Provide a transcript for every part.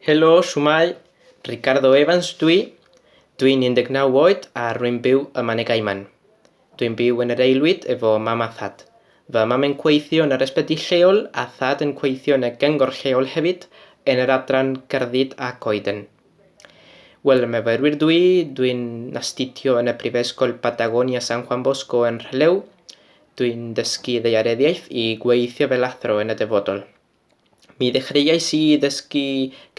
Helo, shwmae? Ricardo Evans dw i. Dwi'n 19 oed a rwy'n byw ym Mane Gaiman. Dwi'n byw yn yr aelwyd efo mam a thad. Fy mam yn gweithio yn yr ysbyty lleol a thad yn gweithio yn y gyngor lleol hefyd yn yr adran Gerddi a Coeden. Wel, yn myfyrwyr dw i, dwi'n astudio yn y Prifysgol Patagonia San Juan Bosco yn Rhylew. Dwi'n dysgu ddaeareddiaeth i gweithio fel athro yn y dyfodol. Mi ddechreuais i ddysgu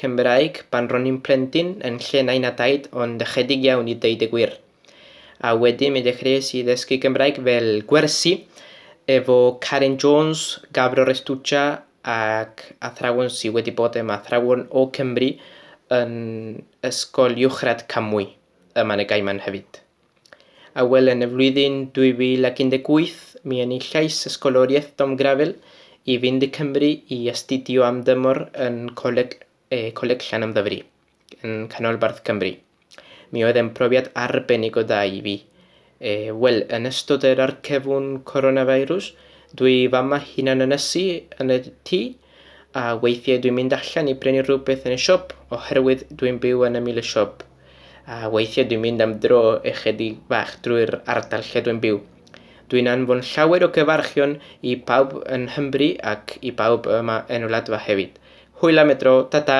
Cymraeg pan ro'n i'n plentyn yn lle nain a daid ond ychydig iawn i ddeud y gwir. A wedyn mi ddechreuais i ddysgu Cymraeg fel gwersi efo Karen Jones, Gabro Restuccia ac athrawon sydd wedi bod yn athrawon o Cymru yn Ysgol Uwchradd Camwy yma yn y Gaiman hefyd. a wel yn y flwyddyn 2018 mi enillais Ysgoloriaeth Dom Grafel i fynd i Cymru i astudio am dymor yn Coleg, e, Coleg Llanymddyfri, yn Canolbarth Cymru. Mi oedd e'n profiad arbennig o dda i fi. E, wel, yn ystod yr arcefwn coronavirus, dwi fama hunan ynysu yn y tŷ, A weithiau dwi'n mynd allan i brynu rhywbeth yn y siop oherwydd dwi'n byw yn ymyl y siop. A weithiau dwi'n mynd am dro ychydig fach drwy'r ardal lle dwi'n byw. Dwi'n anfon llawer o gyfarchion i pawb yn Nghymru ac i bawb yma yn Wladfa hefyd. Hwyl am y tro, ta ta!